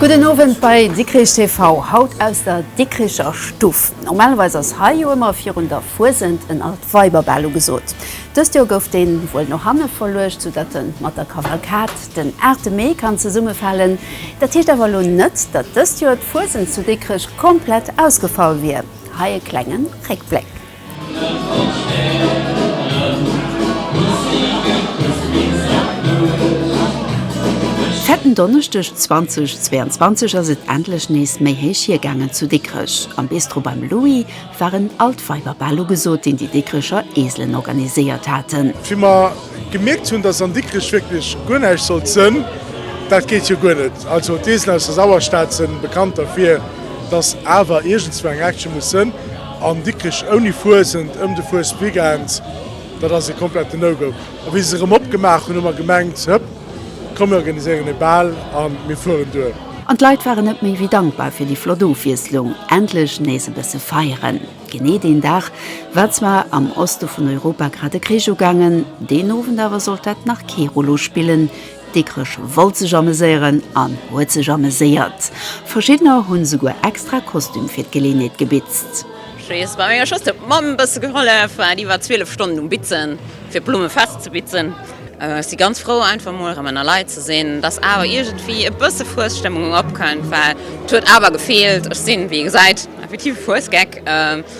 Gudden Owend bei Dikrich TV, haut aus der Dikricher Stuff. Normalerweis ass hei jo ëmmer virun der Fuesent en alt Weiberbal ugesot. Dëst Joer gouf deen wuel no hanne verluecht, sou datt en mat der Kavalkad den 8 Mee kann zesummefalen. Dat heescht awer elo net, datt dëst Joer d'Fuesent zu Dikrech komplett ausgefall wier. Hei e klengen Réckbléck. Fetten Donneschdeg 2022 ass et endlech nees méi héich hiergaangen zu Dikrech. Am Bistro beim Louis waren all d'Weiber bal ugesot, deen déi Dikrecher Eselen organiséiert haten. Wéi mer gemierkt hunn, dass an Dikrech wierklech guer näischt sollt sënn, dat geet jo guer net, also d'Eselen aus der Sauerstad sënn bekannt derfir, dass awer iergendswou eng Action muss sënn. An Dikrech ouni Fuesent ëm de Fuesweekend, dat ass ee kompletten No-Go. A wéi se erëm opgemaach hunn, hu mer gemengt, Hëpp, komm mir organiséieren ee Bal a mir fueren duer. An d'Leit waren net méi wéi dankbar fir déi flott Ofwiesslung, endlech nees e bësse feieren. Genee deen Dag war zwar am Oste vun Europa grad e Krich ugaangen, deen Owend awer sollt dat nach kee Rollo spillen, Dikkrech wollt sech ameséieren an huet sech ameséiert. Verschiddener hunn souguer extra Kostüm fir d'Geleenheet gebitzt. Schwees war mir just op d'Mamm bësse gehollef, waart iwwer 12 Stonnen um Bitzen fir d'Blumme fest ze bitzen. Ech si ganz frou einfach mol rem enner Leit ze sin. Et ass awer iergendwéi e bësse Fuesstëmmung opkënnt, well et huet awer gefeelt. Ech sin wéi ee gesäit effektiv e Fuesgeck.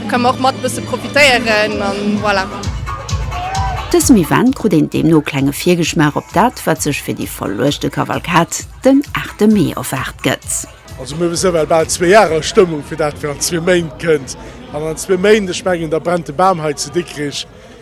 Do kann mer och mat bësse profitéieren an voilà. Dësem Event krut een deemno klenge Virgeschmaach op dat, wat sech fir déi verluechte Kavalkad den 8 Mee erwaart gëtt. Also mir hu se well bal zwee Jahre a Stëmmung fir dat, wat an zwee Méint kënnt. An an zwee Méint, ech mengen, da brennt de Bam hei zu Dikrich.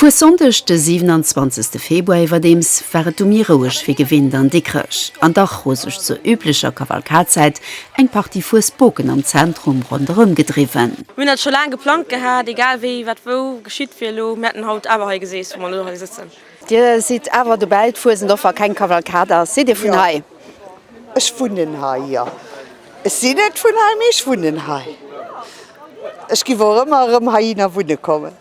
Vu Sonndeg de 27 Februar iwwerdeems war et du méi roueg wéi gewinnt an Dikrech. An dach hu sech zur üblecher Kavalkadzäit eng Partie Fuesboken am Zentrum ronderëm gedriwwen. Mir hunn dat scho laang geplangt gehat, egal wéi wat wou geschitt wier, elo mir hätten haut awer hei geseess wou mer elo hei sëtzen. Dir sidd awer dobäi d'Fuesent och wa keng Kavalkad ass. Sidd Dir vun hei? Ech wunnen hei, jo. Ech sinn net vun hei, mee ech wunnen hei. Ech giff och ëmmer erëm heihinner wunne kommen.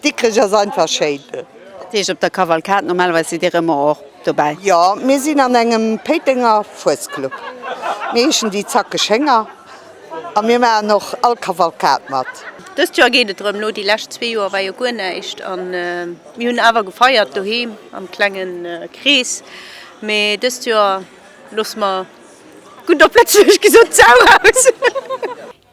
Dikrech ass einfach schéin. Dat heescht op der Kavalkad, normalerweis sidd Dir ëmmer och dobäi? Jo, mir sinn an engem Péitenger Fuesclub. Mir heeschen déi zackeg Hénger a mir maachen och all Kavalkad mat. Dëst Joer geet et erëm, elo déi lescht zwee Joer war jo guer näischt. An mir hunn awer gefeiert doheem am klengen Krees, mee dëst Joer. Looss mer gutt op Lëtzebuergesch gesot sauer aus.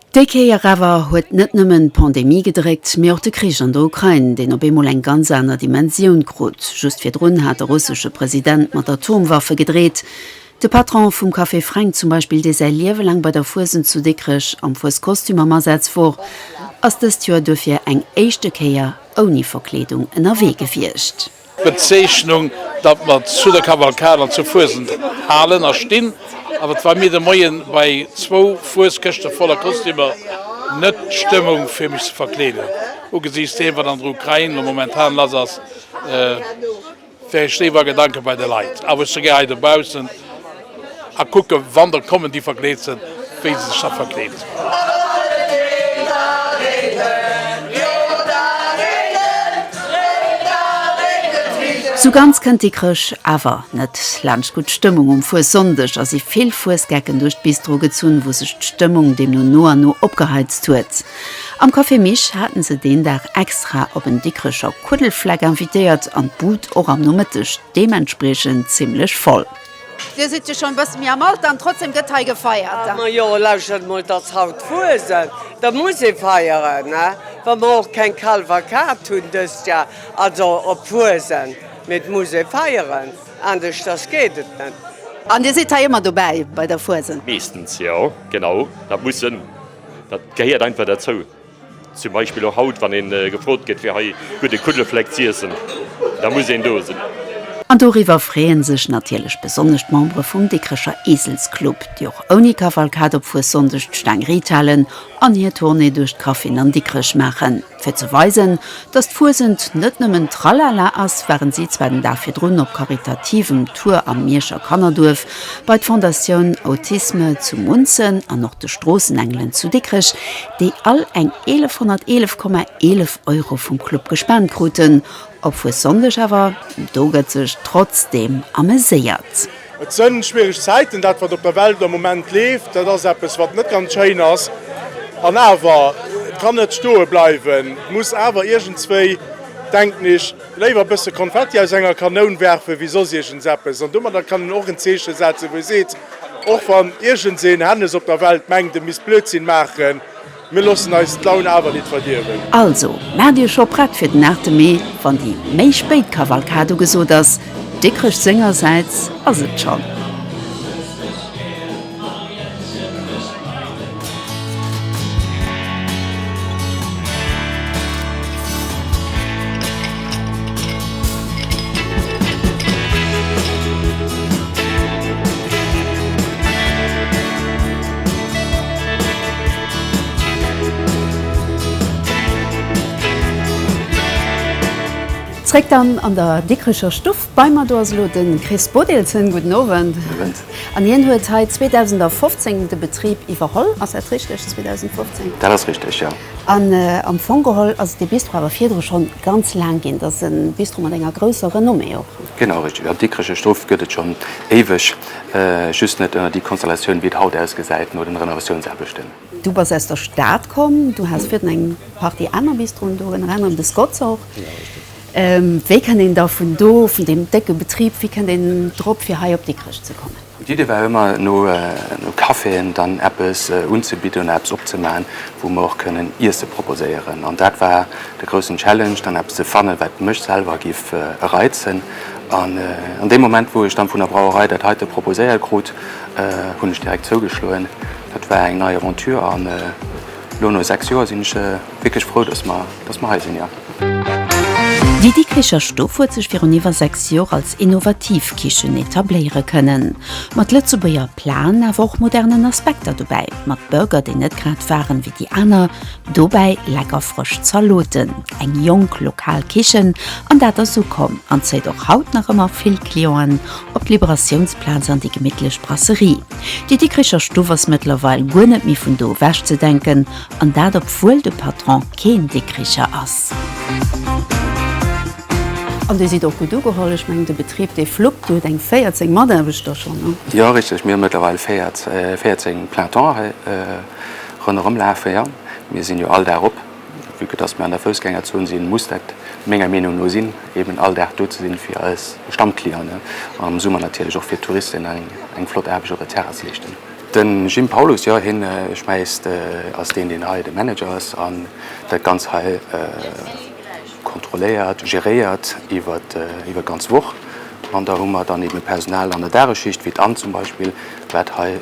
Déi Kéier awer huet net nëmmen d'Pandemie gedréckt, mee och de Krich an der Ukrain, deen op eemol eng ganz aner Dimensioun krut. Just virdrun hat de russesche President mat Atomwaffe gedreet. De Patron vum Café Fränk zum Beispill, dee säi Liewe laang bei der Fuesent zu Dikrech am Fueskostüm am Asaz wor, ass dëst Joer duerfir eng éischte Kéier ouni Verkleedung ënnerwee gewiescht. Bezeechnung, datt mer zu der Kavalkad an zur Fuesend halen a stinn. Awer wa mir de Moien bei zwou Fueskëschte voller Kostümer, net d'Stëmmung fir mech ze verkleeden, ugesiichts deem wat an der Ukrain elo momentan lass ass, wär ech léiwer a Gedanken bei de Leit a wou ech souguer hei dobaussen, A kucke wann der kommen déi verkleet sinn, wéi se sech da verkleeden. Sou ganz kënnt déi Chrësch awer net laanscht. Gutt Stëmmung um Fuessonndeg, a si vill Fuesgecken duerch d'Bistro gezunn, wou sech d'Stëmmung deemno no an no opgeheizt huet. Am Café Mich haten se deen Dag extra op en Dikrecher Kuddelfleck invitéiert an d'Bud och am Nomëtteg deementspriechend zimmlech voll. Dir sidd jo schonn e bësse méi am Alter an trotzdeem gëtt hei gefeiert. Ma jo, lauschert emol, et ass haut Fuesent, da muss ee feieren, wa mer och keng Kalf a Kat hunn dëst Jar, also op Fuesent, mee et muss ee feieren, aneschters geet et net. An Dir sidd hei ëmmer dobäi bei der Fuesent? Meeschtens, jo, genau, dat muss sinn, dat gehéiert einfach derzou. Zum Beispill och haut, wann ee gefrot gëtt fir hei gudde Kuddelfleck z'iessen, da muss een do sinn. An doriwwer freeën sech natierlech besonnesch d'Membere vum Dikrecher Eselsclub, déi och ouni Kavalkad op Fuessonndeg d'Staang riit halen an hir Tournée duerch d'Grapheen an Dikrech maachen. Fir ze weisen, datt d'Fuesent net nëmmen Tralala ass, waren si zwar den Dag virdrun op karitativem Tour am Mierscher Kannerduerf, bei d'Fondatioun Autisme zu Munzen an och de Stroossenengelen zu Dikrech, déi all eng 1111,11 Euro vum Club gespent kruten, op Fuessonndeg awer, do gëtt sech trotzdeem ameséiert. Et së schwiereg Zäiten, dat wat op der Welt am Moment leeft, dat ass eppes wat net ganz schéin ass, an awer, et kann net stoe bleiwen, et muss awer iergendswéi, denken ech, Léiwer e bësse Konfetti aus enger Kanoun werfen, wéi soss iergends eppes. An domadder kann een och en Zeeche setzen, wou ee seet, Och wann iergends een Hännes op der Welt mengt, e misst Blödsinn maachen, mir loossen eis d'Laun awer nit verdierwen. Also, maacht iech scho prett fir den 8 Mee, wann déi méi spéit Kavalkad ugesot ass. Dikrech sengersäits ass et schonn. Zréck dann an der Dikkrecher Stuff. Bei mer do ass elo de Chris Bodelsen. Gudden Owend. Gudden Owend. An hien huet hei 2015 de Betrib iwwerholl, ass dat richteg? 2015? Dat ass richteg, jo. An am Fong geholl ass et ee Bistro awer virdru scho ganz laang ginn. Et ass e Bistro mat enger grousser Renommée och. Genau, richteg. Am Dikrech Strof gëtt et schonn éiweg, just net ënner déi Konstellatioun, wéi et haut ausgesäit no den Renovatiounsaarbechten. Du bass aus der Stad komm, du has virden eng Partie aner Bistroen do, ënner anerem de Scott's och. Wéi kënnt een da vun do, vun deem décke Betrib, wéi kënnt een drop, fir hei op Dikrech ze kommen? D'Idee war ëmmer, no Caféen dann eppes unzebidden, eppes opzemaachen, wou mer och kënnen Iesse proposéieren. An dat war de groussen Challenge, dann eppes ze fannen, wat mech selwer giff reizen. An an deem Moment, wou ech dann vun der Brauerei dat heite proposéiert krut, hunn ech direkt zougeschloen. Dat war eng nei Aventure an elo no 6 Joer sinn ech wierklech frou, dass mer, dass mer hei sinn, jo. Déi Dikricher Stuff huet sech virun iwwer 6 Joer als innovativ Kichen etabléiere kënnen. Mat Lëtzebuerger Plaen, awer och modernen Aspekter dobäi. Mat Burger, déi net grad waren wéi déi aner. Dobäi lecker frësch Zaloten. Eng jonk, lokal Kichen an dat ass ukomm an zéit och haut nach ëmmer vill Clienten op d'Liberatiounsplaz an déi gemittlech Brasserie. Déi Dikricher Stuff ass mëttlerweil guer net méi vun do ewech ze denken, an dat obwuel de Patron keen Dikricher ass. An Dir sidd och gutt ugeholl. Ech mengen, de Betrib, dee fluppt. Dir hutt eng 14 Mataarbechter schonn, hm? Jo, richteg. Mir hu mëttlerweil 14 Plein-temps hei ronderëm lafe, jo. Mir sinn jo all Dag op. Vu que dass mir an der Foussgängerzon sinn, muss dat menger Meenung no sinn, eben all Dag do ze sinn, fir eis Stammclienten an am Summer natierlech och fir d'Touristen eng flott Aarbecht op der Terrass leeschten. Den Jim Paulus, Jo, hien, ech mengst, ass deen, deen hei de Manager ass an dat Ganzt hei kontrolléiert, geréiert iwwer d'ganz Woch. An da hu mer dann eben e Personal an der Dageschicht, wéi d'Anne zum Beispill, wat hei,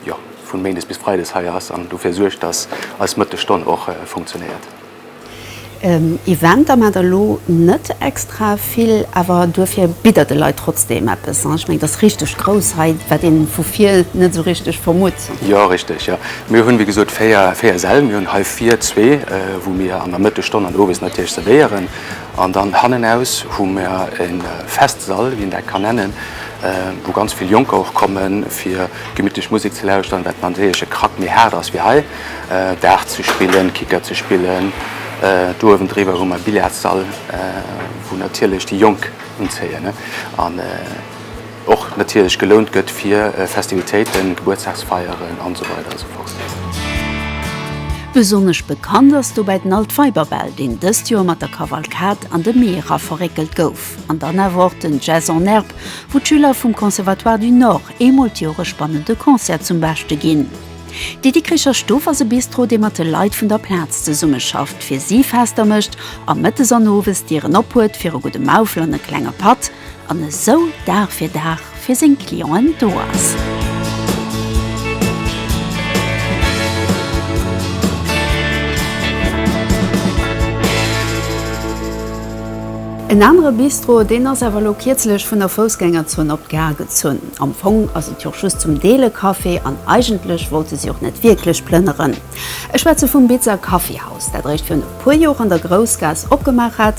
jo. vun Méindes bis Freides hei ass an dofir suergt, dass eis Mëttesstonn och funktionéiert. Eventer maacht der elo net extra vill, awer duerfir bitt der de Leit trotzdeem eppes. Ech mengen, et ass richteg grouss hei, wat ee vu vir net esou richteg vermutt. Jo, richteg, jo. Mir hunn, wéi gesot, véier Säll. Mir hunn hei vir zwee, wou mir an der Mëttesstonn an owes natierlech zerwéieren. An dann hannenaus hu mer e Festsall, wéi een dat kann nennen, wou ganz vill Jonker och kommen, fir gemittlech Musek ze lauschteren, wat natierlech e Krack méi haart ass wéi hei, Dart ze spillen, Kicker ze spillen. Do uewendriwwer hu mer e Billardssall, wou natierlech déi Jonk unzéien. Och natierlech gelount gëtt fir Festivitéiten, Gebuertsdagsfeieren an esou weider an esou fort. Besonnesch bekannt ass dobäi den Alt Weiberbal, deen dëst Joer mat der Kavalkad an de Mee era verréckelt gouf. An dann awer och den Jazz en Herbe, wou d'Schüler vum Conservatoire du Nord eemol d'Joer e spannende Concert zum Beschte ginn. De Dikricher Stuff ass e Bistro, dee mat de Leit vun der Plaz zesummeschafft, fir si Fester mécht a mëttes an owes d'Dieren ophuet fir e gudde Maufel an e klenge Patt. an esou Dag fir Dag fir seng Clienten do ass. En anere Bistro, deen ass awer elo kierzlech vun der Foussgängerzon op d'Gare gezunn. Am Fong ass et jo och just zum Deel e Café an eigentlech wollte si och net wierklech plënneren. Ech schwätze vum Bitzer Kaffeehaus, dat eréischt virun e puer Jor an der Groussgaass opgemaach hat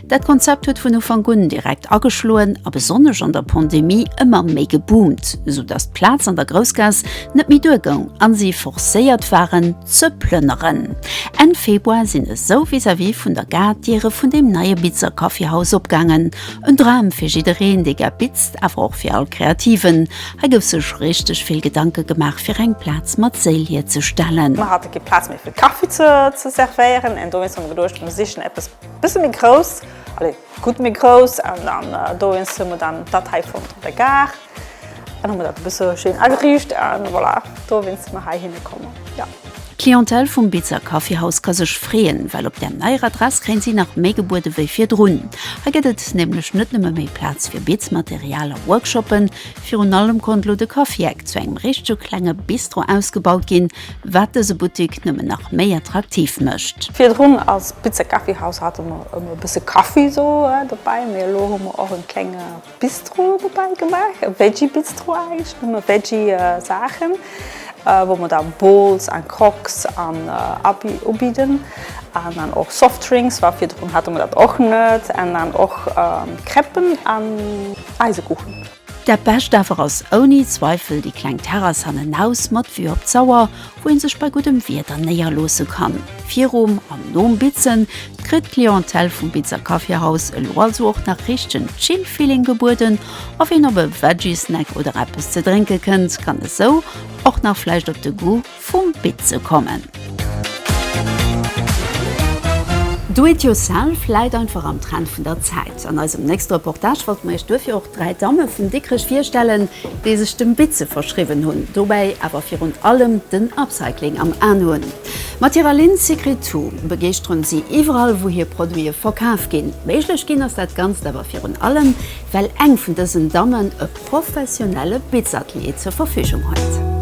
Dat Konzept huet vun Ufank un direkt ageschloen a besonnesch an der Pandemie ëmmer méi geboomt, sou datt d'Plaz an der Groussgaass net méi duer goung a si forcéiert waren ze plënneren. Enn Februar sinn esou vis-à-vis vun der Gare d'Diere vun deem neie Bitzer Kaffeehaus opgaangen. En Dram fir jiddereen, dee gär bitzt, awer och fir all Kreativen. Hei gouf sech richteg vill Gedanke gemaach, fir eng Plaz mat Séil hierzestellen. Mer hate kee Plaz méi fir Kaffi ze servéieren, en dowéinst hu mer geduecht, mer sichen eppes, Bësse méi grouss, allez, gutt méi grouss. An dann dowéinst hu mer dann dat hei fonnt op der Gare. An hu mer dat e bësse schéin ageriicht. A voilà, dowéinst si mer heihinne kommen, jo. D'Clientèle vum Beezer Kaffeehaus ka sech freeën, well op där neier Adress kréien si nach méi gebuede wéi virdrun. Hei gëtt et nämlech net nëmme méi Plaz fir Beetsmaterial a Workshoppen, virun allem konnt elo de Kaffi-Eck zu engem richtege klenge Bistro ausgebaut ginn, wat dëse Buttik nëmmen nach méi attraktiv mécht. Virdrun als Pizza Kaffi Haus hate mer ëmmer e bësse Kaffi do dobäi, mee elo hu mer och e klenge Bistro dobäi gemaach, e Veggie Bistro eigentlech, nëmme Veggie Saachen, wou mer da Bowls an Croques an ubidden an dann och Softdrinks, well virdrun hate mer dat och net, an dann och Crêpen an Eisekuchen. Dat Bescht awer ass ouni Zweifel déi kleng Terrass hannenaus mat Vue op d'Sauer, wou ee sech bei guddem Wieder néierloosse kann. Virum an nom Bitzen kritt d'Clientèle vum Bitzer Kaffeehaus elo also och nach richtegen Chill-Feeling gebueden a ween op e Veggie-Snack oder eppes ze drénke kënnt, kann esou och nach vläicht op de Goût vum Bit ze kommen. Do it yourself läit einfach am Trend vun der Zäit. An eisem nächste Reportage wollte mer iech duerfir och dräi Damme vun Dikrech virstellen, déi sech dem Bit ze verschriwwen hunn, dobäi awer virun allem den Upcycling am An hunn. Mat hirer Linn Secret To begeeschteren si iwwerall, wou hir Produite verkaf ginn. Méiglech ginn ass dat Ganzt awer virun allem, well eng vun dësen Dammen e. professionelle Bitzatelier zur Verfügung huet.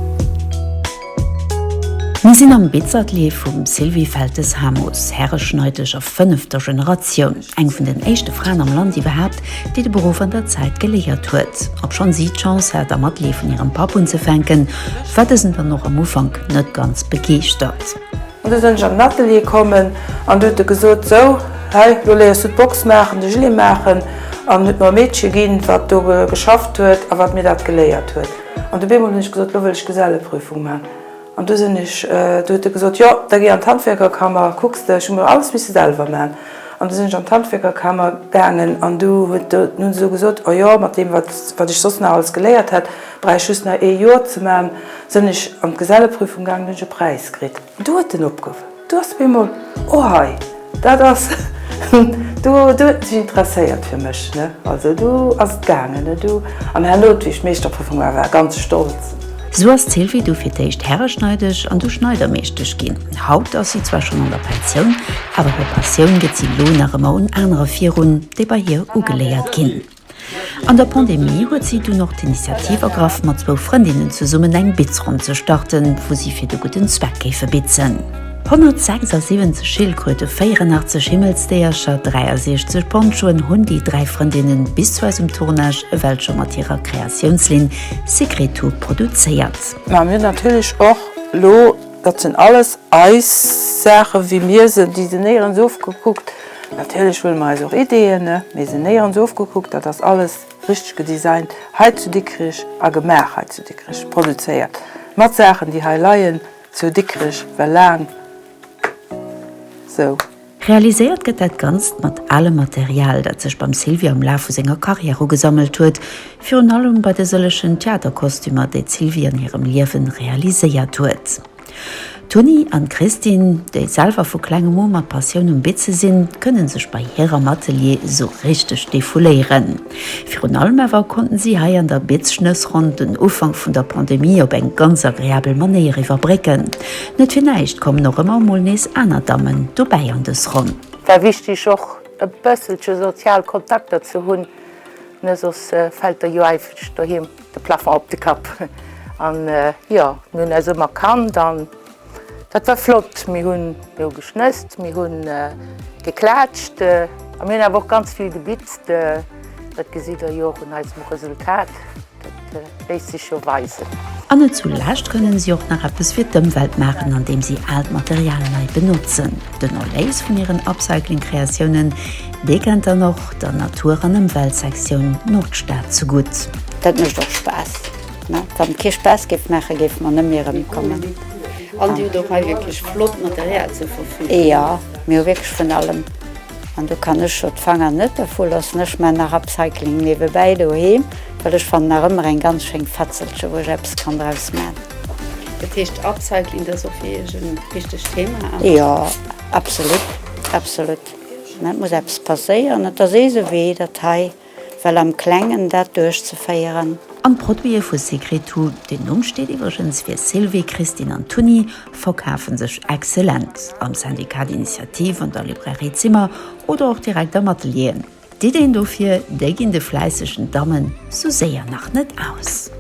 Mir sinn am Bitzatelier vum Sylvie Feltes-Hamus, Häreschneidesch a fënnefter Generatioun, eng vun den éischte Fraen am Land iwwerhaapt, déi de Beruff an der Zäit geléiert huet. Obschonn si d'Chance hat, am Atelier vun hirem Papp unzefänken, war dësen dann och am Ufank net ganz begeeschtert. An du sen ech an den Atelier kommen an du huet e gesot, sou, hei, lo léiers du d'Box maachen, de Gilet maachen, an huet mer e Meedche ginn, wat do geschafft huet a wat mir dat geléiert huet. An du beemol hunn ech gesot, lo wëll ech Geselleprüfung man. An du sen ech, du huet e gesot, jo, da géi an d'Handwierkerkammer, kucks de, ech hu mer alles misse selwer man. An du sen ech an d'Handwierkerkammer gaangen an du huet, du hunn se esou gesot, o jo, mat deem, wat, wat ech soss nach alles geléiert hätt, Brauch ech just nach ee Joer ze man, sen ech an d'Geselleprüfung gaangen, hun ech e Präis kritt. Du huet en opgeruffen, du ass op eemol, oh hei, dat ass, du huet en sech interesséiert fir mech, ne, also du ass et gaangen, ne, du. An herno huet, wéi ech d'Meeschterprüfung man war, ganz stolz. Sou ass d'Sylvie du fir d'éischt Herreschneidesch an du Schneidermeeschtesch gin. Haut ass si zwar schon an der Pensioun, awer hir Passioun get si lo nach emmer un anere virun, déi bei hir ugeléiert gin. An der Pandemie huet si dunn och d'Initiativ ergraff, mat zwou Frëndinnen zesummen eng Bitzronn ze starten, wou si fir de gudden Zweck géife bitzen. 176 Schildkröte, 84 Himmelsdéiercher, 63 Ponchoen hunn déi dräi Frëndinne bis zu eisem Tournage ewell scho mat hirer Kreatiounslinn Secretu produzéiert. Mä mir hunn natierlech och elo, dat sinn alles eis Saachen, wéi mir se designéieren, se ofgekuckt, Natierlech huele mer eis och Ideeën, mee se néierens ofgekuckt. Dat ass alles richteg gedesignt hei zu Dikrich a gemaach hei zu Dikrich, produzéiert mat Saachen, déi hei leien zu Dikrich well laang esou. Realiséiert gëtt dat Ganzt mat alem Material, dat sech beim Sylvia um Laf vu senger Carrière ugesammelt huet, virun allem bei de sëllechen Theaterkostümer, déi d'Sylvie an hirem Liewen realiséiert huet. D'Toni an d'Christine, déi selwer vu klengem u mat Passioun um Bitze sinn, kënnen sech bei hir am Atelier esou richteg defouléieren. Virun allem awer konnten si hei an der Bitzschnëssronn den Ufank vun der Pandemie op eng ganz agreabel Manéier iwwerbrécken. Net fir näischt kommen och ëmmer emol nees aner Dammen dobäi an dës Ronn. War wichteg och e bësselche sozial Kontakter ze hunn, ne soss fält der jo eifeg doheem. De Plafond op de Kapp. An jo, mir hunn eis ëmmer kannt an dat war flott. Mir hunn do geschnësst, mir hu geklaatscht a mir hunn awer och ganz vill gebitzt. Dat gesitt der jo och un eisem Resultat, dat léisst sech jo weisen. An net zu lescht kënnen si och nach eppes fir d'Ëmwelt maachen, andeem si aalt Material nei benotzen. Den Erléis vun hiren Upcycling-Kreatiounen Dee kennt dann och der Natur an Ëmweltsektioun Nordstad zu gutt. Dat mécht och Spaass, mä wann et kee Spaass géif maachen, géife mer net méi erëmkommen. An Dir hutt och hei wierklech flott Material zur Verfügung. Jo, mir hu wierklech vun allem. An do kann ech jo d'Fanger net dervu loossen. Ech maan nach Upcycling niewebäi doheem, well ech fannen nach ëmmer eng ganz schéin Fetzelche wou ech eppes kann draus maan. Dat heescht Upcycling, dat ass och fir Iech en wichtegt Thema? Jo, absolut, absolut. Et muss eppes passéieren, et ass eese Wee, dat hei well am Klengen dat duerchzeféieren. An d'Produite vu Secretu, den Numm steet iwwregens fir Sylvie, Christine an Toni, verkafe sech exzellent am Syndicat d'Initiative, an der Librairie Zimmer oder och direkt am Atelier. D'Iddeen dofir, déi ginn de fläissegen Dammen sou séier nach net aus.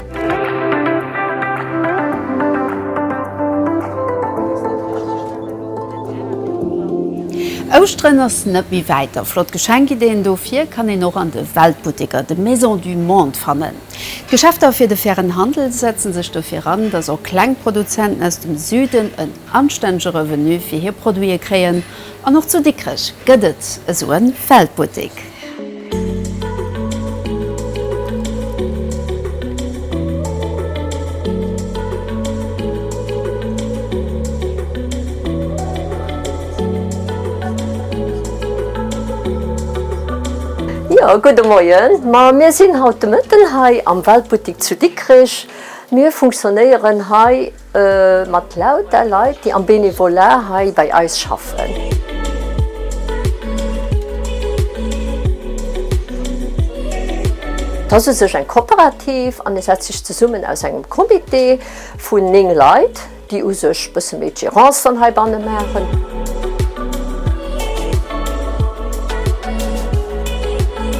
Ouschteren ass net méi wäit a flott Geschenkiddeen dofir kann een och an de Weltbutteker, de Maisons du Monde fannen. D'Geschäfter fir de fairen Handel setzen sech dofir an, dass och kleng Produzenten aus dem Süden en anstännege Revenu fir hir Produite kréien. An och zu Dikrech gëtt et esou e Feldbuttek. Jo, gudde Moien. Ma mir sinn haut de Mëtten hei am Weltbuttik zu Dikrech. Mir funktionéieren hei. Mat lauter Leit, déi am Bénévolat hei bei eis schaffen. T'ass u sech eng Cooperative an e setzt sech zesummen aus engem Comité vun 9 Leit, déi u sech e bësse méi d'Gérance dann heibanne maachen.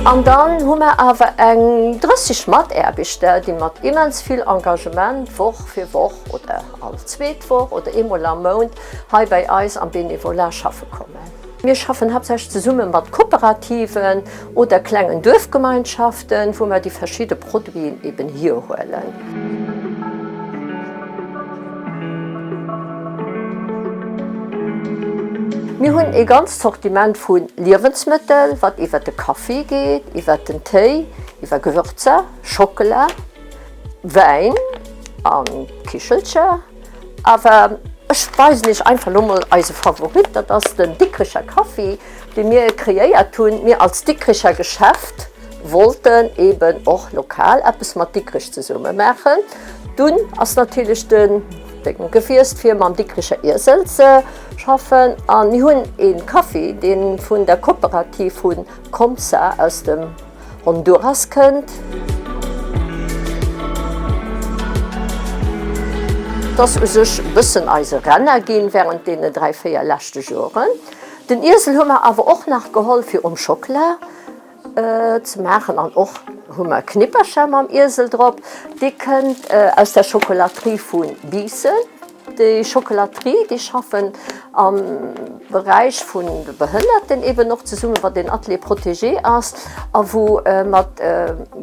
An dann hu mer awer eng 30 Mataarbechter, déi mat immens vill Engagement d'Woch. fir Woch oder all zweet Woch oder eemol am Mount hei bei eis am Bénévolat schaffe kommen. Mir schaffen haaptsächlech zesumme mat Kooperativen oder klengen Duerfgemeinschaften, wou mer déi verschidde Produiten eben hierhuelen. Mir hunn ee ganzt Sortiment vu Liewensmëttel, wat iwwert de Kaffi geet, iwwert den Téi, iwwer Gewürzer, Schockela, Wäin an Kichelcher, awer ech weisen iech einfach lo mol eise Favorit, dat ass den Dikricher Kaffi dee mir kreéiert hunn. Mir als Dikricher Geschäft wollten eben och lokal eppes mat Dikrich zesumme maachen. Dunn ass natierlech den Dénk gewiesst fir mam Dikricher Iesel ze schaffen an mir hunn ee Kaffi dee vun der Kooperativ vun Comsa aus dem. Honduras kënnt. Et ass u sech e bëssen eise Renner ginn während deenen dräi, véier leschte Joren. Den Iesel hu mer awer och nach geholl fir um Schockela ze maachen an och hu mer Knippercher mam Iesel drop. Dee kënnt aus der Schokolaterie vu Biissen. Déi Chocolaterie, déi schaffen am Beräich vun de Behënnerten eben och zesummen, wat een Atelier protégé ass a wou mat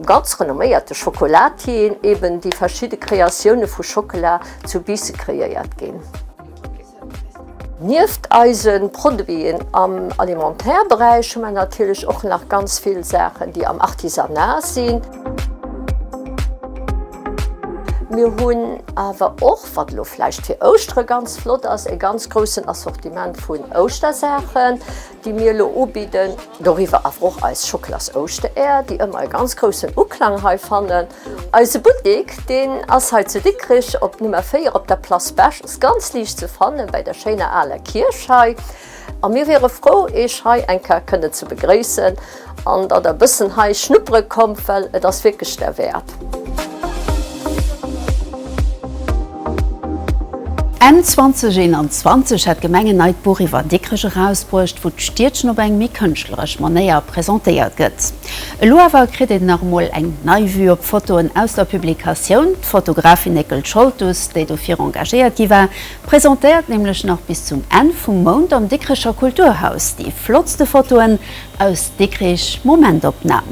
ganz renomméierte Chocolatierien eben déi verschidde Kreatioune vu Schockela zu Biisse kreéiert ginn. Nieft eise Produiten am Alimentaire-Beräich hu mer natierlech och nach ganz vill Saachen, déi am Artisanat sinn. Mir hunn awer och, wat elo vläicht fir Ouschtere ganz flott ass, e ganz groussen Assortiment vun Ouschtersaachen, déi mir elo ubidden. Doriwwer awer och eis Schockelas-Ouschtereeër, déi ëmmer e ganz groussen Uklang hei fannen. Eise Buttek, deen ass hei zu Dikrech op Nummer 4 op der Place Bech, ass ganz liicht ze fannen, bei der schéiner aler Kierch hei. A mir wiere frou, Eech hei eng Kéier kënnen ze begréissen an datt Der e bëssen hei schnuppere kommt, well et ass wierklech derwäert. Enn 2021 hat d'Gemeng en neit Buch iwwer Dikrech erausbruecht, wou d'Stiedchen op eng méi kënschtleresch Manéier presentéiert gëtt. Elo awer kritt een nach emol eng nei Vue op d'Fotoen aus der Publikatioun. D'Fotografin Néckel Scholtus, déi dofir engagéiert gi war, Presentéiert nämlech nach bis zum Enn vum Mount am Dikricher Kulturhaus déi flottste Fotoen aus Dikrich, Momentopnahm.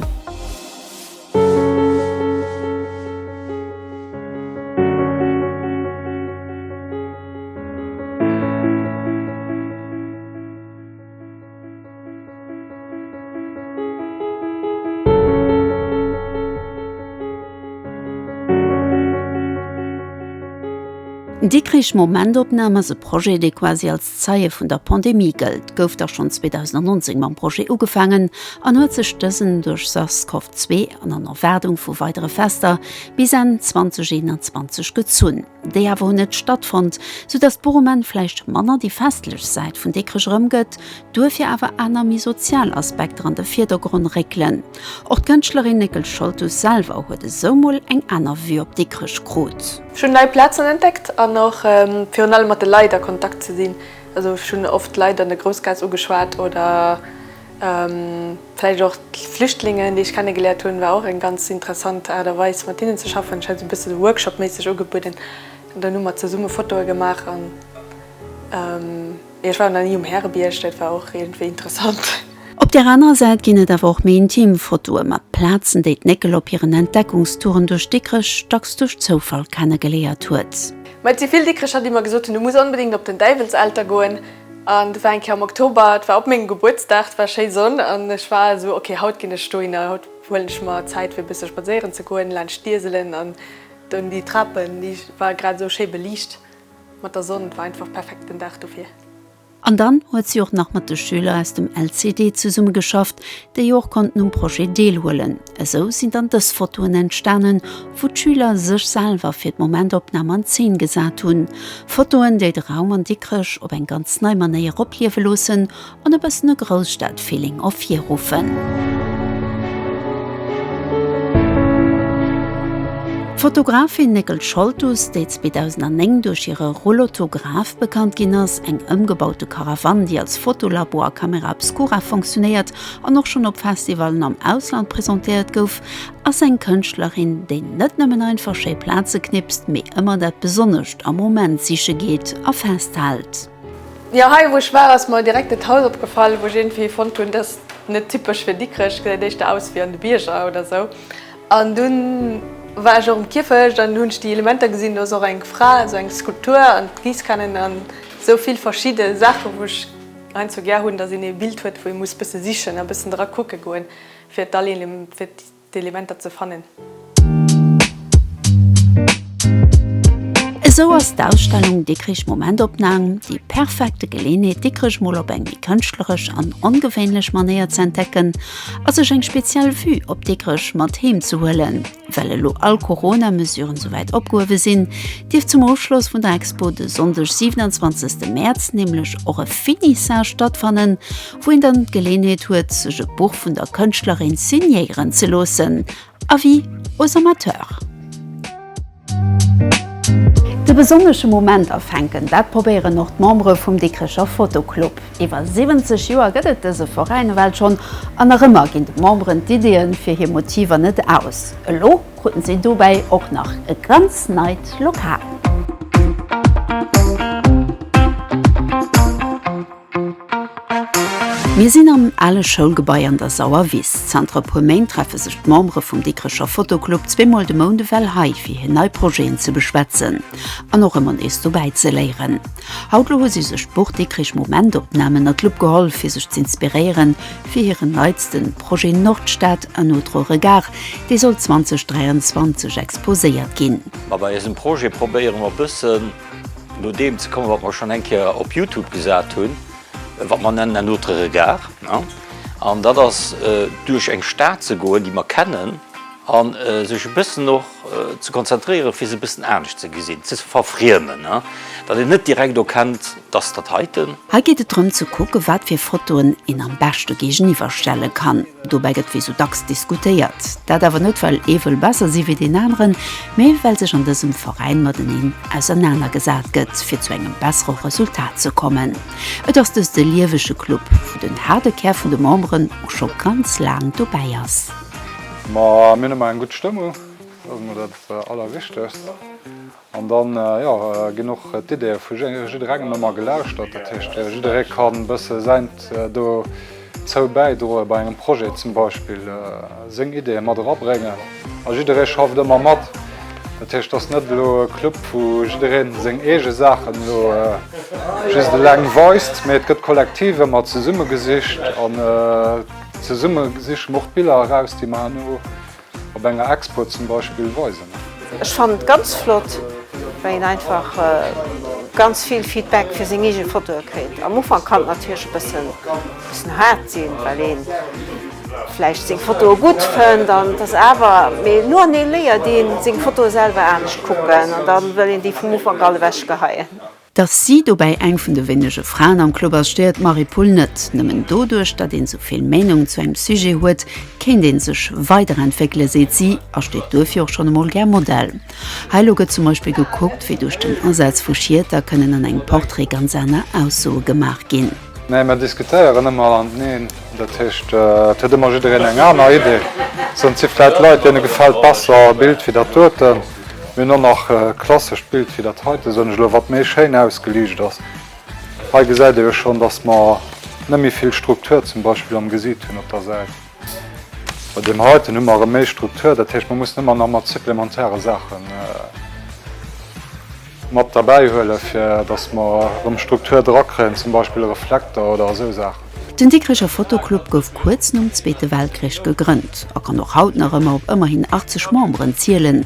Dikkrich Momentopnahm ass e Projet, dee quasi als Zeie vun der Pandemie gëllt. Gouf da schonn 2019 mam Projet ugefaangen an huet sech dësen duerch SARS-CoV-2 an an Erwaardung vu weidere Fester bis Enn 2021 gezunn. déi awer hunn net stattfonnt, sou dass d'Bourgement vläicht manner déi festlech Säit vun Dikrech erëmgëtt, duerfir awer aner méi sozial Aspekter an de Virdergronn réckelen. Och d'Kënschtlerin Néckel Scholtus selwer huet esou mol eng aner Vue op Dikrech krut. Ech hunn nei Plazen entdeckt an och virun allem mat de Leit a Kontakt ze sinn. Also ech hunn oft Leit an der Groussgaass ugeschwat oder Vläicht och d'Flüchtlingen, déi ech kennegeléiert hunn, war och eng ganz interessant Aart a Weis, mat hinnen ze schaffen. Ech hat esou e bësse Workshop-méisseg ugebueden. An dann hu mer zesumme Fotoe gemaach an, jo, ech war nach ni um Härebierg, dat war och iergendwéi interessant. Op där anerer Säit ginn et awer och méi intim Fotoe mat Plazen, déi d'Néckel op hiren Entdeckungstouren duerch Dikrech dacks duerch Zoufall kennegeléiert huet. Mä et si vill Dikrecher, déi mer gesot hunn, Du muss onbedéngt op den Däiwelselter goen. An do war eng Kéier am Oktober, et war op mengem Gebuertsdag, et war schéi Sonn an ech war esou, ok, haut ginn ech dohinner, haut huelen ech mer Zäit fir e bësse spadséieren ze goen laanscht d'Ieselen an dunn déi Trapen, déi war grad esou schéi beliicht mat der Sonn, et war einfach perfekt den Dag dofir. An dann huet si och nach mat de Schüler aus dem LCD zesummegeschafft, déi och konnten um Projet deelhuelen. Esou sinn dann dës Fotoen entstanen, wou d'Schüler sech selwer fir d'Momentopnam an Zeen gesat hunn. Fotoen, déi de Raum an Dikrech op eng ganz nei Manéier opliewe loossen an e bëssen e Grousstadfeeling ervirruffen. D'Fotografin Néckel Scholtus, déi 2009 duerch hire Roulottograph bekannt ginn ass, eng ëmgebaute Caravane, déi als Fotolabo a Camera Obscura funktionéiert, an och schonn op Festivallen am Ausland presentéiert gouf, ass eng Kënschtlerin, déi net nëmmen einfach schéi Plaze knipst, mee ëmmer dat Besonnescht am Moment siche geet a festhält. Jo, hei wou ech war ass mer direkt et Haus opgefall, wou ech iergendwéi fonnt hunn, dat ass net typesch fir Dikrech, gesäit éischter aus ewéi an de Bierger oder sou. An dunn war ech och um Kierfecht an hunn ech déi Elementer gesinn, do ass och eng Fra, sou eng Skulptur an d'Giisskannen an sou vill verschidde Saachen, wou ech. Ein zwar gär hunn, dass een ee Bild huet, wou ee muss bësse sichen a bëssen dra kucke goen, fir d'Elementer ze fannen. Esou ass d'Ausstellung Dikrich Momentopnahm déi perfekte Geleenheet, Dikrech mol op eng méi kënschtleresch an ongewéinlech Manéier ze entdecken a sech eng speziell Vue op Dikrech mat heem ze huelen. Well elo all Corona-Mesuren souwäit opgehuewe sinn, dierf zum Ofschloss vun der Expo de Sonndeg 27 Mäerz nämlech och e Finissage stattfannen, wou een dann d'Geleenheet huet sech e Buch vun der Kënschtlerin signéieren ze loossen. Avis aux amateurs. De besonnesche Moment afänken, dat probéieren och d'Membere vum Dikrecher Photo Club. Iwwer 70 Joer gëtt et dëse Veräin ewell schonn an nach ëmmer ginn de Memberen d'Ideeën fir hir Motiver net aus. Elo kruten si dobäi och nach e ganz neit Lokal. Mir sinn am ale Schoulgebai an der Sauer Wiss. Zanter e puer Méint treffe sech d'Membere vum Dikrecher Fotoclub zweemol de Mount ewell hei fir hir nei Projeten ze beschwätzen an och ëmmer nees dobäi ze léieren. Haut lo hu si sech d'Burg Dikrich Momentopnamen ënnert d'Lupp geholl fir sech z'inspiréieren fir hiren neitsten Projet Nordstad, un autre regard, dee soll 2023 exposéiert ginn. Ma bei eisem Projet probéiere mer bëssen no deem ze kommen wat mer schonn eng Kéier op Youtube gesat hunn, wat mer nennen un autre regard, an dat ass duerch eng Stad ze goen déi mer kennen, An sech e bëssen och ze konzentréieren, fir se e bëssen anescht ze gesinn, ze verfriemen, datt een net direkt erkennt, dass dat heiten. Hei geet et drëm ze kucken, wat fir Fotoen een am beschte géigeniwwer stelle kann. Dobäi gëtt wéi sou dacks diskutéiert. Dat awer net, well ee wëll besser si wéi deen aneren, mee well sech an dësem Veräin mateneen ausernaner gesat gëtt, fir zu engem bessere Resultat ze kommen. Et ass dëst e liewege Club, wou den haarde Kär vun de Memberen och scho ganz laang dobäi ass. Ma mir hunn ëmmer eng gutt Stëmmung, dat ass emol dat Allerwichtegst. An dann, jo, ginn och d'Ideeë vu jidderengem ëmmer gelauschtert. Dat heescht, jidderee ka e bësse säint dozou bäidroen, bei engem Projet zum Beispill seng Ideeë mat erabréngen. A jidderee schafft ëmmer mat. Dat heescht, et ass net elo e Club, wou jidderee seng eege Saachen elo just eleng weist, mee et gëtt kollektiv ëmmer zesummegesicht. Zesumme siche mer och d'Biller eraus, déi mer herno op enger Expo zum Beispill weisen. Ech fannen et ganz flott, well een einfach ganz vill Feedback fir seng eege Fotoe kritt. Am Ufank kann et natierlech e bëssen haart sinn, well ee vläicht seng Fotoe gutt fënnt an et ass awer, mee no an no léiert ee seng Fotoe selwer anescht kucken an da wëll een déi vum Ufank all ewechgeheien. Datt si dobäi eng vun de wéinege Fraen am Club ass, stéiert d'Marie Pull net. Nëmmen doduerch, datt ee souvill Meenung zu engem Sujet huet, kéint ee sech weiderentwéckelen, seet si, a steet duerfir och schonn emol gär Modell. Hei elo gëtt zum Beispill gekuckt, wéi duerch den Asaz vu Schieter kënnen an engem Portrait ganz aner Aussoe gemaach ginn. Nee, mer diskutéieren ëmmer mateneen. Dat heescht, et huet ëmmer jiddereen eng aner Idee. Et sinn si vläicht Leit, deene gefält besser e Bild wéi dat dote. Mir hunn och nach e klassescht Bild wéi dat heite, soen ech elo, wat méi schéin ausgeliicht ass. Hei gesäit ee jo schonn, dass mer net méi vill Struktur zum Beispill am Gesiit hunn op der Säit. Bei deem heiten hu mer erëm méi Struktur, dat heescht mer mussen ëmmer nach mat supplementäre Saache mat derbäi huelen, fir datt mer erëm Struktur dra kréien, zum Beispill e Reflekter oder esou Saachen. Den Dikricher Fotoclub gouf kuerz nom Zweete Weltkrich gegrënnt a kann och haut nach ëmmer op ëmmerhin 80 Memberen zielen.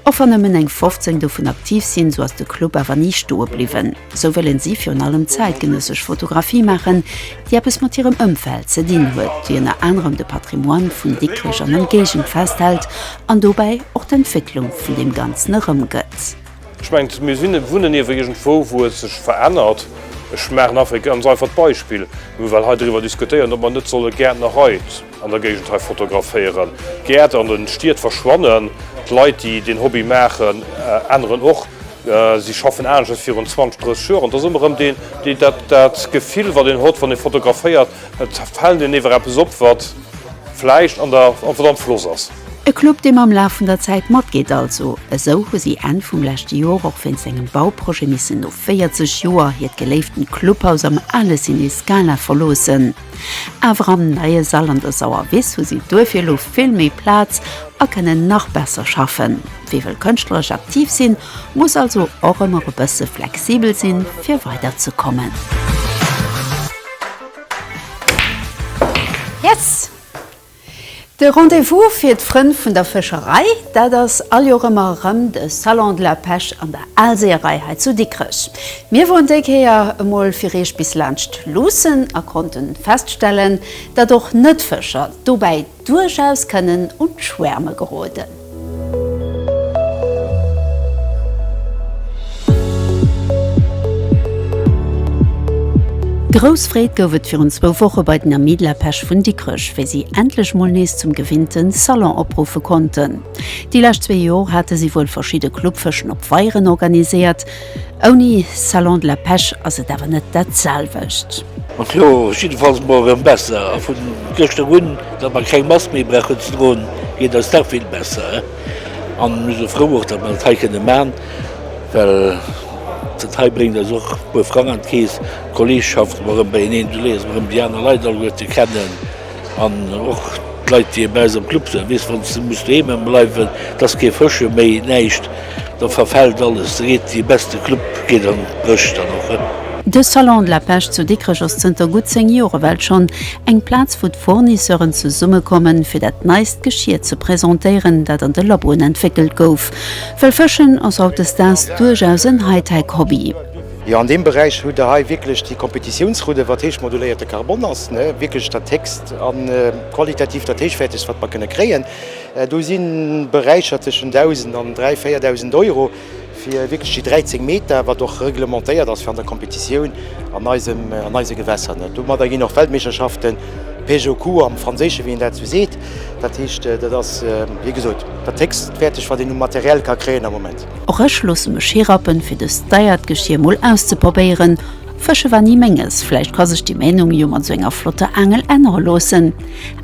Och wann nëmmen eng 15 dovun aktiv sinn, sou ass de Club awer ni stoe bliwwen. Sou wëllen si virun allem zäitgenëssesch Fotografie maachen, déi eppes mat hirem Ëmfeld ze dinn huet, déi ënner anerem de Patrimoine vun Dikrech an Ëmgéigend festhält an dobäi och d'Entwécklung vun deem Ganzen erëmgëtt. Ech mengen, mir sinn, wunnen iewer iergendwou, wou et sech verännert. Ech maachen einfach e ganz einfacht Beispill, well mir hei driwwer diskutéieren, ob mer net solle Gäertnerei, An der Géigend hei fotograféieren. D'Gäert an den Stied verschwannen. D'Leit déi deen Hobby maachen änneren och. Si schaffen anescht wéi virun 20, 30 Joer. An et ass ëmmer erëm deen deen dat Gefill wat een hott wann ee fotograféiert. Et fällt een ewer eppes op wat vläicht an der wat am Floss ass. E Club dee mam Laf vun der Zäit matgeet also. Esou hu si Enn vum leschte Joer och wéinst engem Bauprojet missen no 40 Joer hiert geléiften Clubhaus am ale Ciné Scala verloossen. Awer am neie Sall an der Sauerwiss hu si duerfir elo vill méi Plaz a kënnen nach besser schaffen. Wie wëll kënschtleresch aktiv sinn, muss also och ëmmer e bësse flexibel sinn, fir weiderzekommen. Yes! De Rendez-vous fir d'Frënn vun der Fëscherei, dat ass all Joer ëmmer erëm de Salon de la Pêche an der Aalseeërei hei zu Dikrech. Mir woren déi Kéier emol fir Eech bis laanscht Luussen a konnten feststellen, datt och Net-Fëscher dobäi duerchaus kënnen un d'Schwäerme geroden. Grouss Freed gouf et virun zwou Woche bei den Amis de la Pêche vun Dikrech, wéi si endlech mol nees zum gewinnte Salon opruffe konnten. Déi lescht zwee Jor hate si wuel verschidde Clubfëschen op Weieren organiséiert, Ouni Salon de la Pêche ass et awer net dat selwecht. Ma kloer, et ass jiddefalls mol erëm besser. A vu gëschter un, datt mer keng Mask méi brauchen ze droen, geet eis dach vill besser. An mir si frou och, datt mer dat hei kënne maachen, well dat hei bréngt eis och e puer Frang an d'Keess. D'Kolleegschaft, mer erëm beieneen, du léiers mer erëm déi aner Leit alleguerte kennen. An och d'Leit, déi bei eis am Club sinn, weess, wann s de muss doheem bleiwen, et ass kee Fëschen méi, näischt, da verfält alles, da geet dee beste Club geet an d'Bréch dann och. De Salon de la Pêche zu Dikrech ass zënter gutt 10 Jore well schonn eng Plaz, wou d'Fournisseuren zesummekommen, fir dat neist Geschier ze presentéieren, dat an de Laboen entwéckelt gouf. Well Fëschen ass hautdesdaags duerchaus en Hightech-Hobby. Jo, an deem Beräich hutt Der hei wierklech déi Kompetitiounsroute, wat héich moduléierte Carbon ass, wierklech dat héchst a qualitativ dat héichwäertegst, wat mer kënne kréien. Do si Beräicher tëschent 1.000 an 3.000, 4.000 Euro fir wierklech déi 13 Meter, wat och reglementéiert ass fir an der Kompetitioun an eisem, an eise Gewässer. Domadder ginn och Weltmeeschterschaften, Pêche au coup am Franséische wéi een dat esou seet. Dat heescht, dat ass wéi gesot dat héchstwäertegt, wat een u Material ka kréien am Moment. Och ech loosse mech hirappen fir dëst deiert Geschier mol auszeprobéieren. Fësche war ni menges, vläicht ka sech déi Ménung jo mat sou enger flotter Aangel ännere loossen.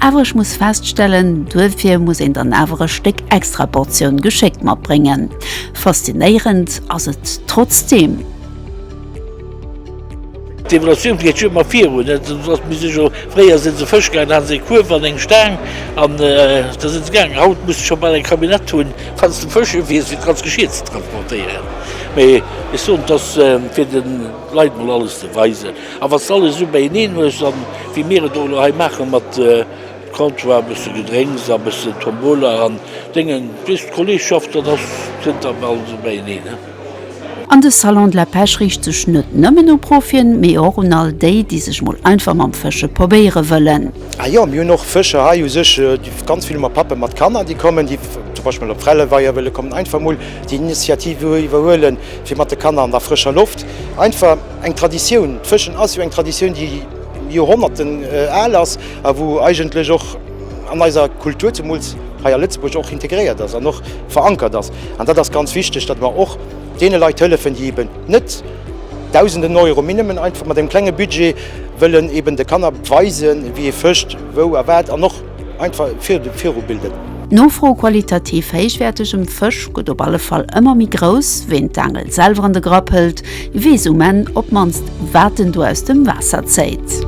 Awer ech muss feststellen, duerfir muss een dann awer e Stéck extra Portioun Geschéck matbréngen. Faszinéierend ass et trotzdeem. D'Evolutioun geet jo ëmmer virun. Mir si jo, fréier si se Fësch gaangen, da hate se e Kuerf an eng Staang an da si se gaangen. Haut muss de scho bal eng Camionnette hunn, wann s de Fësch uwies, fir d'ganz Geschir ze transportéieren. Mee ech soen, et ass fir de Leit mol alles ze weisen. A wann s de alles esou beieneen hues a wéi mir et och elo hei maachen, mat Comptoir, e bësse Gedrénks a e bësse Tombola an Déngen, weess de, d'Kolleegschaft, dat ass, kënnt da bal esou beieneen. An de Salon de la Pêche riicht sech net nëmmen u Profien, mee och un all déi, déi sech mol einfach mam Fësche probéiere wëllen. Ah jo, mir hunn och Fëscher hei u sech, ganz vill ma Pappen, mat Kanner, déi kommen, déi zum Beispill mol op Frelleweier wëlle kommen, einfach mol déi Initiative iwwerhuele fir mat de Kanner an der frëscher Loft einfach eng Traditioun, d'Fëschen ass jo eng Traditioun, déi Joerhonnerten al ass a wou eigentlech och, an eiser Kultur zemools hei a Lëtzebuerg och integréiert ass an och verankert ass. An dat ass ganz wichteg, datt mer och deene Leit hëllefen, déi eben net Dausenden Euro, mee nëmmen einfach mat engem klenge Budget wëllen eben de Kanner weisen, wéi ee fëscht, wou a wat an och einfach virubilden. D'Nofro u qualitativ héichwäertegem Fësch gëtt op alle Fall ëmmer méi grouss. Ween d'Aangel selwer an de Grapp hëlt, Weess um Enn op d'mannst, wat en do aus dem Waasser zéit.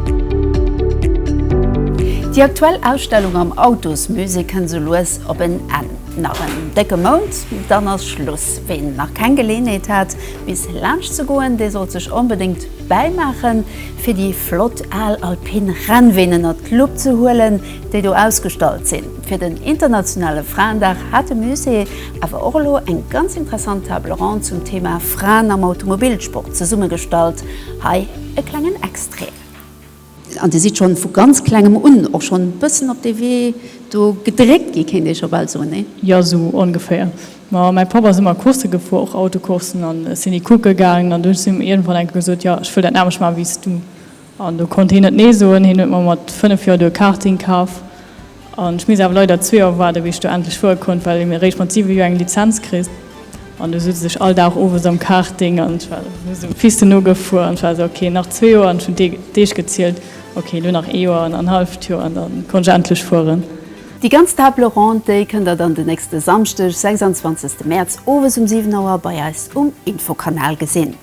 Déi aktuell Ausstellung am Autosmusée kënnt sou lues op en Enn. Nach en décke Mount, dann ass Schluss. Ween nach keng Geleeënheet hat, bis laanscht ze goen, dee sollt sech onbedéngt bäimaachen, fir déi flott al alpin Rennween ënnert d'Lupp ze huelen, déi do ausgestallt sinn. Fir den internationale Fraendag hat de Musée awer och elo eng ganz interessant Table ronde zum Thema Fraen am Automobilsport zesummegestallt. Hei e klengen Extrait. An Dir sidd schonn vu ganz Klengem un och schonn e bëssen op dee Wee do gedréckt gi, kéint ee scho bal soen, nee? Jo, esou ongeféier. Ma mäi Papp ass ëmmer Coursse gefuer, och Autocourssen, an ech sinn déi kucke gaangen an duerch sinn ech iergendwann enke gesot, jo, ech wëll dat anescht maachen wéi s du. An do konnt hien net Nee soen. Hien huet mer mat 5 Joer do e Karting kaf. An ech misst awer leider zwee Joer waarden, wéi ech do endlech fuere konnt, well een eréischt mat 7 Joer eng Lizenz kritt. An do sutz ech all Dag owes am Karting an ech war just um Piste nogefuer an ech war esou, ok, nach zwee Joer. An ech hunn d'Deeg gezielt, ok, elo nach ee Joer an en halleft Joer an da konnt ech endlech fueren. Déi ganz Table Ronde kënnt der dann den nächste Samschdeg, 26 Mäerz, owes um 7 Auer bei eis um Infokanal gesinn.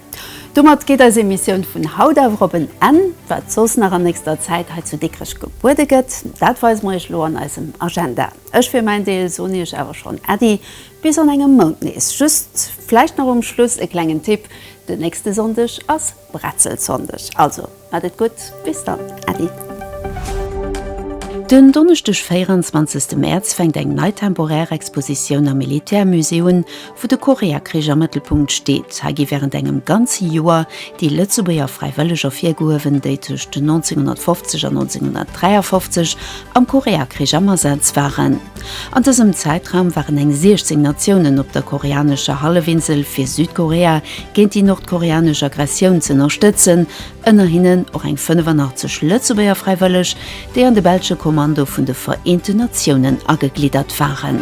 Domat geet eis Emissioun vun haut awer op en Enn. Wat soss nach an nächster Zäit hei zu Dikrech gebuede gëtt, dat weise mer iech elo an eisem Agenda. Ech fir mäin Deel soen iech awer schonn Äddi bis an engem Mount nees. Just vläicht nach um Schluss e klengen Tipp, Den nächste Sonndeg ass Bretzelsonndeg, also. Haat et gudd, bis dann Äddi. Den Donneschdeg 24 Mäerz fänkt eng nei temporär Expositioun am Militärmusée un, wou de Koreakrich am Mëttelpunkt steet. Hei gi wärend engem ganze Joer déi Lëtzebuerger Fräiwëlleg ervirgehuewen, déi tëscht 1950 an 1953 am Koreakrich am Asaz waren. An dësem Zäitraum waren eng 16 Natiounen op der koreanescher Hallefinsel fir Südkorea, géint déi nordkoreanesch Aggressioun ze ënnerstëtzen, ënner hinnen och eng 85 Lëtzebuerger Fräiwëlleg, déi an de belsche Kommando vun de Vereenten Natiounen agegliddert waren.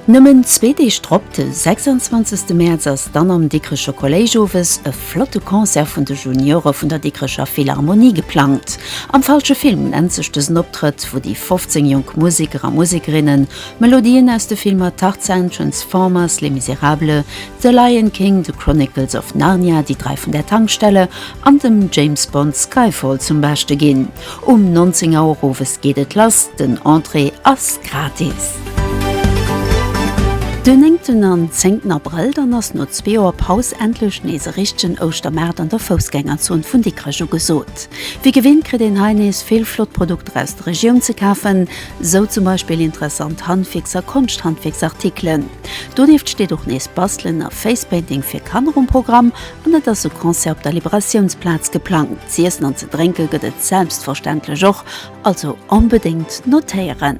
Nëmmen zwee Deeg drop, de 26 Mäerz, ass dann am Dikrecher Kolléisch owes e flotte Concert vun de Juniore vun der Dikrecher Philharmonie geplangt. Am falsche Film nennt sech dësen Optrëtt, wou déi 15 jonk Museker a Musekerinne Melodien aus de Filmer Tarzan, Transformers, Les Misérables, The Lion King, The Chronicles of Narnia, Die drei vun der Tankstelle an dem James Bond Skyfall zum Beschte ginn. Um 19 Auer owes geet et lass, den Entrée ass gratis. Den néngten an zéngten Abrëll, dann ass no zwee Joer Paus endlech nees e richtegen Ouschtermaart an der Foussgängerzon vun Dikrech ugesot. Wéi gewinnt kritt een hei nees vill flott Produkter aus der Regioun ze kafen. Sou zum Beispill interessant Handwierks a Konschthandwierksartikelen. Donieft steet och nees Bastelen a Facepainting fir Kanner um Programm an et ass e Concert op der Liberatiounsplaz geplangt. Z'iessen an ze drénke gëtt et selbstverständlech och, also onbedéngt notéieren!